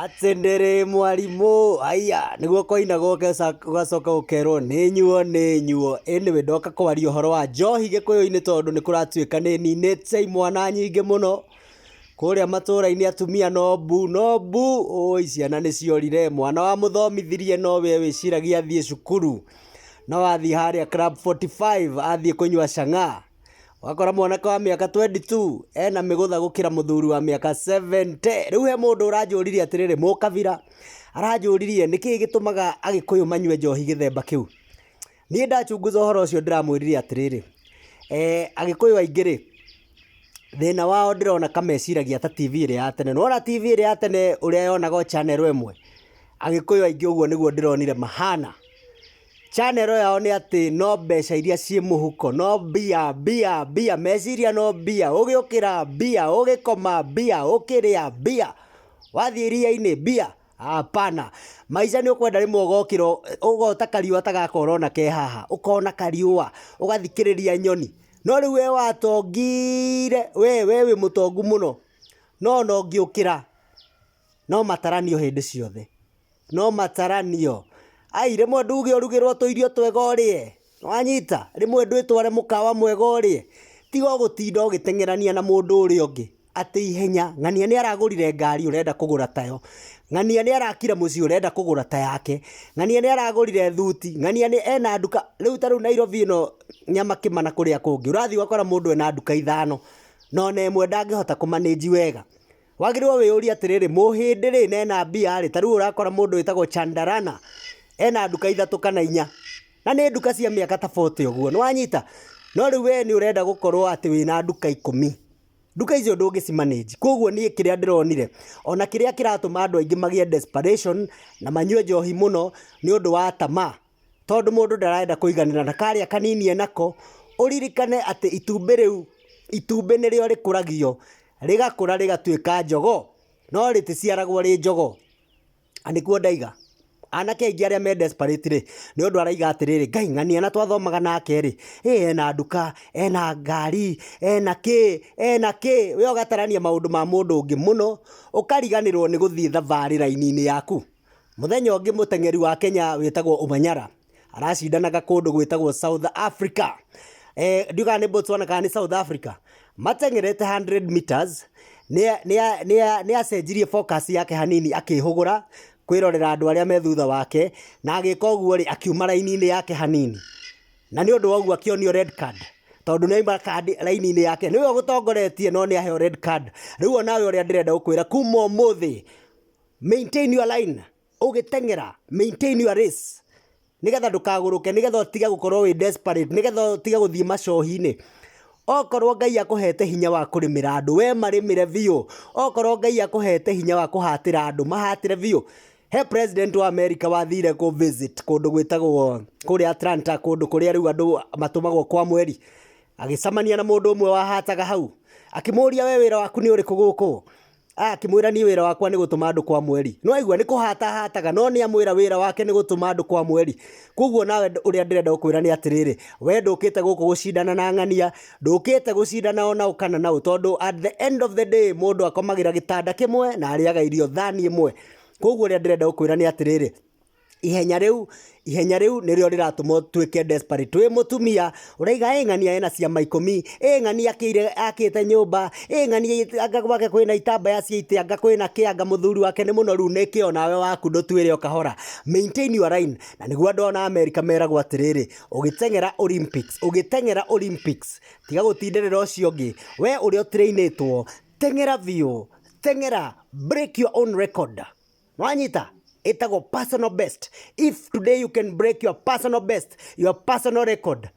Atĩndĩrĩ mwarimũ haiya nĩguo kwainaga ũgacoka ũkerwo nĩ nyuo nĩ nyuo anyway ndoka kwaria ũhoro wa njohi gĩkũyũ-inĩ tondũ nĩ kũratuĩka nĩ ninĩte imwana nyingĩ mũno kũrĩa matũra-inĩ atumia no mbu no mbu ũũi ciana nĩ ciorire mwana wa mũthomithirie no we wĩciragia athiĩ cukuru no athiĩ harĩa club 45 athiĩ kũnyua cang'aa Wakora mwanake wa mĩaka 22 ena mĩgũtha gũkĩra mũthuri wa mĩaka 70. Rĩu he mũndũ ũranjũririe atĩrĩrĩ, mũkabira aranjũririe nĩkĩ gĩtũmaga agĩkũyũ manyue njohi gĩthemba kĩu. Niĩ ndachunguza ũhoro ũcio ndĩramwĩrire atĩrĩrĩ, eh, agĩkũyũ aingĩ rĩ thĩna wao ndĩrona kameciragia ta TV ĩrĩa ya tene. Nĩwona TV ĩrĩa ya tene ũrĩa yonaga o channel ĩmwe? Agĩkũyũ aingĩ ũguo nĩguo ndĩronire mahana. Channel yao nĩ atĩ no mbeca iria ciĩ mũhuko, no mbia, mbia, mbia, meciria no mbia, ũgĩũkĩra mbia, ũgĩkoma mbia, ũkĩrĩa mbia, wathiĩ iria-inĩ mbia, hapana. Maica nĩ ũkwenda rĩmwe ũgokĩra ũ- ũgota kariũa ta gaka ũrona ke haha, ũkona kariũa, ũgathikĩrĩria nyoni, no rĩu we watongire, we, we wĩ mũtongu mũno, no ona ũngĩũkĩra, No mataranio hĩndĩ ciothe. No mataranio. Ai, rĩmwe nduge ũrugĩrwo tũirio twega ũrĩe. Nĩwanyita? Rĩmwe ndwĩtware mũkawa mwega ũrĩe. Tiga o gũtinda ũgĩteng'erania na mũndũ ũrĩa ũngĩ atĩ ihenya. Ng'ania nĩaragũrire ngari ũrenda kũgũra tayo. Ng'ania nĩarakire mũciĩ ũrenda kũgũra ta yake. Ng'ania nĩaragũrire thuti. Ng'ania nĩ ena nduka. Rĩu ta rĩu Nairobi ĩno Nyamakima na kũrĩa kũngĩ, ũrathiĩ ũgakora mũndũ ena nduka ithano, na ona ĩmwe ndangĩhota kũ manage wega. Wagĩrĩirwo wĩyũrie atĩrĩrĩ, mũhĩndĩ rĩ na ena mbia rĩ, ta rĩu ũrakora mũndũ wĩtagwo Chandarana ena nduka ithatũ kana inya na nĩ nduka cia mĩaka ta 40 ũguo, nĩwanyita? No rĩu we nĩũrenda gũkorwo atĩ wĩna nduka ikũmi, nduka icio ndũngĩci manage. Koguo niĩ kĩrĩa ndĩronire, ona kĩrĩa kĩratũma andũ aingĩ magĩe desperation na manyue njohi mũno nĩ ũndũ wa tamaa. tondũ mũndũ ndarenda kũiganĩra na karĩa kanini enako, ũririkane atĩ itumbĩ rĩu, itumbĩ nĩrĩo rĩkũragio, rĩgakũra rĩgatuĩka njogoo, no rĩtĩciaragwo rĩ njogoo, na nĩguo ndaiga, anake aingĩ arĩa me desperate rĩ, nĩ ũndũ araiga atĩrĩrĩ, Ngai ng'ania na twathomaga nake rĩ, ĩ ena nduka, ena ngari, ena kĩĩ, ena kĩĩ, wee ũgatarania maũndũ ma mũndũ ũngĩ mũno, ũkariganĩrwo nĩ gũthiĩ thabarĩ raini-inĩ yaku. Mũthenya ũngĩ mũteng'eri wa Kenya wĩtagwo Omanyala aracindanaga kũndũ gwĩtagwo South Africa eh, ndiũ kana nĩ Botswana kana nĩ South Africa mateng'erete 100 meters nĩ acenjirie focus yake hanini akĩhũgũra kwĩrorera andũ arĩa me thutha wake na agĩka ũguo rĩ akiuma raini-inĩ yake hanini na nĩ ũndũ wa ũguo akĩonio red card tondå nä aima kandi raini-inä yake nä we å gå tongoretie no nä aheo red card rä u onawe å rä a ndä renda gå kwä ra kuma må thä maintain your line ũgĩteng'era maintain your race nĩgetha ndũkagũrũke nĩgetha ũtige gũkorwo wĩ desperate nĩgetha ũtige gũthiĩ macohi-inĩ okorwo ngai akũhete hinya wa kũrĩmĩra andũ we marĩmĩre biũ okorwo ngai akũhete hinya wa kũhatĩra andũ mahatĩre biũ he president wa america wathire kũ visit kũndũ gwĩtagwo kũrĩa atlanta kũndũ kũrĩa rĩu andũ matũmagwo kwa mweri agĩcamania na mũndũ ũmwe wahataga hau akĩmũria we wĩra waku nĩ ũrĩkũ gũkũ Akĩmwĩra, Niĩ wĩra wakwa nĩ gũtũma andũ kwa mweri. Nĩ waigua, nĩ kũhata ahataga, no nĩ amwĩra wĩra wake nĩ gũtũma andũ kwa mweri. Kwoguo nawe ũrĩa ndĩrenda gũkwĩra nĩ atĩrĩrĩ, we ndũkĩte gũkũ gũcindana na ng'ania, ndũkĩte gũcindana o naũ kana naũ, tondũ at the end of the day mũndũ akomagĩra gĩtanda kĩmwe na arĩaga irio thani ĩmwe. Kwoguo ũrĩa ndĩrenda gũkwĩra nĩ atĩrĩrĩ, ihenya rĩu ihenya rĩu nĩrĩo rĩratũma ũtuĩke desperate wĩ mũtumia ũraiga ĩ ng'ania ena ciama ikũmi ĩ ng'ania akĩire akĩte nyũmba ĩ ng'ania anga gwake kwĩna itambaya cia itĩ anga kwĩna kĩ anga mũthuri wake nĩ mũnoru nĩ kĩ onawe waku ndũtuĩre o kahora maintain your line na nĩguo andũ ona Amerika meragwo atĩrĩrĩ ũgĩteng'era Olympics ũgĩteng'era Olympics tiga gũtindĩrĩra ũcio ũngĩ we ũrĩa ũtirainĩtwo teng'era biũ teng'era break your own record Nĩwanyita? Ĩtagwo personal best. If today you can break your personal best, your personal record,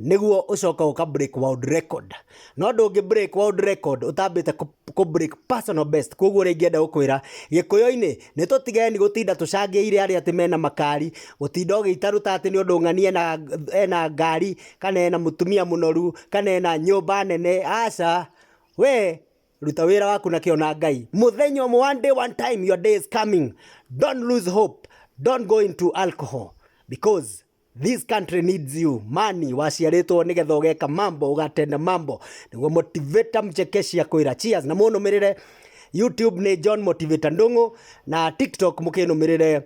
nĩguo ũcoka ũka break world record. No ndũngĩ break world record ũtambĩte kũ- kũ break personal best. Kwoguo rĩngĩ enda gũkwĩra, Gĩkũyũ-inĩ, nĩ tũtigeni gũtinda tũcangĩire arĩa atĩ mena makari, gũtinda ũgĩita ruta atĩ nĩ ũndũ ng'ani ena, ena ngari, kana ena mũtumia mũnoru, kana ena nyũmba nene. Aca, we ruta wira waku na kĩo na ngai mũthenya ũmwe one day one time your day is coming don't lose hope don't go into alcohol because this country needs you mani waciarĩtwo nĩgetha ũgeka mambo ũgatenda mambo nĩguo motivator mchekeshia kwĩra cheers na mũnũmĩrĩre youtube nĩ john motivator ndũng'ũ na tiktok mũkĩnũmĩrĩre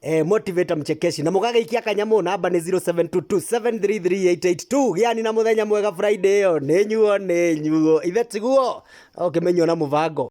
eh, motivator mchekeshi na mugagaikia kanyamå namba nä 0722733882 gĩani na mũthenya mwega friday ĩyo nĩ nyuo nĩ nyuo ithe tiguo ũkĩmenywo na mũbango